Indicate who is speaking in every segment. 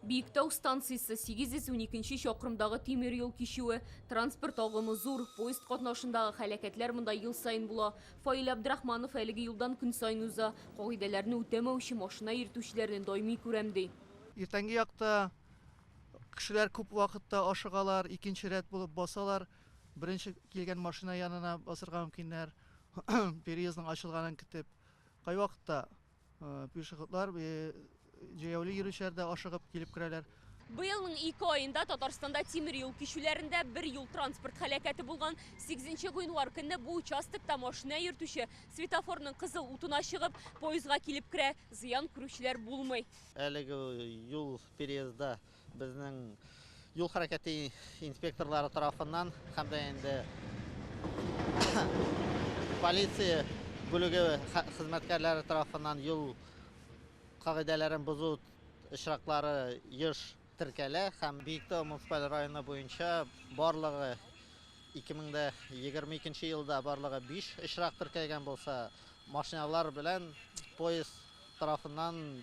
Speaker 1: Биектау станциясе 812 чакрымдагы тимер юл кичүе, транспорт агымы зур, поезд катнашындагы хәләкәтләр монда ел саен була. Фаил Абдрахманов әлеге юлдан көн саен уза, кагыйдәләрне үтәмәүче машина йөртүчеләрне даими күрәм, ди. Иртәнге якта
Speaker 2: кешеләр күп вакытта ашыгалар, икенче рәт булып басалар, беренче килгән машина янына басырга мөмкиннәр, переездның ачылганын көтеп. Кайвакытта Пешеходлар җәяүле йөрүчеләр дә ашыгып килеп керәләр. Быелның ике
Speaker 1: аенда Татарстанда тимер юл кичүләрендә бер юл-транспорт һәлакәте булган. Сигезенче гыйнвар көнне бу участокта машина йөртүче светофорның кызыл утына чыгып, поездга килеп керә. Зыян күрүчеләр булмый. Әлеге
Speaker 3: юл переездда Безнең юл хәрәкәте инспекторлары тарафыннан һәм дә инде полиция бүлеге хезмәткәрләре тарафыннан юл кагыйдәләрен бозу очраклары еш теркәлә һәм Биектау муниципаль районы буенча барлыгы 2022 елда барлыгы 5 очрак теркәлгән булса, машиналар белән поезд тарафыннан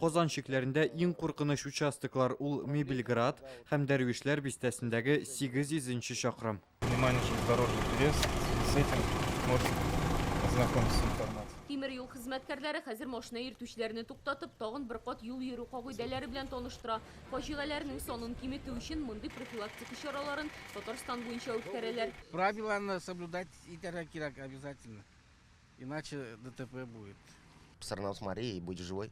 Speaker 4: Казан чикләрендә иң куркыныч участоклар ул Мебельград һәм Дәрвишләр бистәсендәге 800 нче чакрым. Внимание, железнодорожный
Speaker 5: переезд, в связи с этим можете ознакомиться с информацией. Тимер юл хезмәткәрләре
Speaker 1: хәзер машина йөртүчеләрне туктатып, тагын бер кат юл йөрү кагыйдәләре белән таныштыра. Фаҗигаләрнең санын киметү өчен мондый профилактика чараларын Татарстан буенча үткәрәләр. Правиланы
Speaker 6: соблюдать итәргә кирәк обязательно. Иначе ДТП будет. Все равно с
Speaker 7: Марией будь живой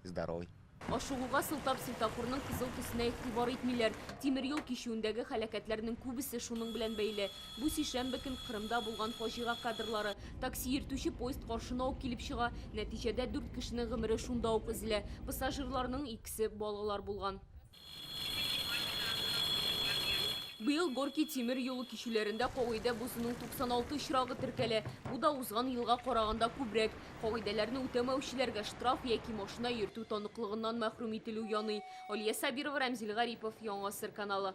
Speaker 7: и здоровой. Ашыгуга сылтап
Speaker 1: светофорның кызыл төсенә игътибар итмиләр. Тимер юл кичүендәге һәлакәтләрнең күбесе шуның белән бәйле. Бу сишәмбе көн Кырымда булган фаҗига кадрлары. Такси йөртүче поезд каршына ук килеп чыга. Нәтиҗәдә дүрт кешенең гомере шунда ук өзелә. Пассажирларның икесе балалар булган. Быел Горки тимер юлы кичүләрендә кагыйдә бозуның 96 очрагы теркәлә. Бу да узган елга караганда күбрәк. Кагыйдәләрне үтәмәүчеләргә штраф яки машина йөртү таныклыгыннан мәхрүм ителү яный. Алия Сабирова, Рәмзил Гарипов, Яңа Гасыр каналы.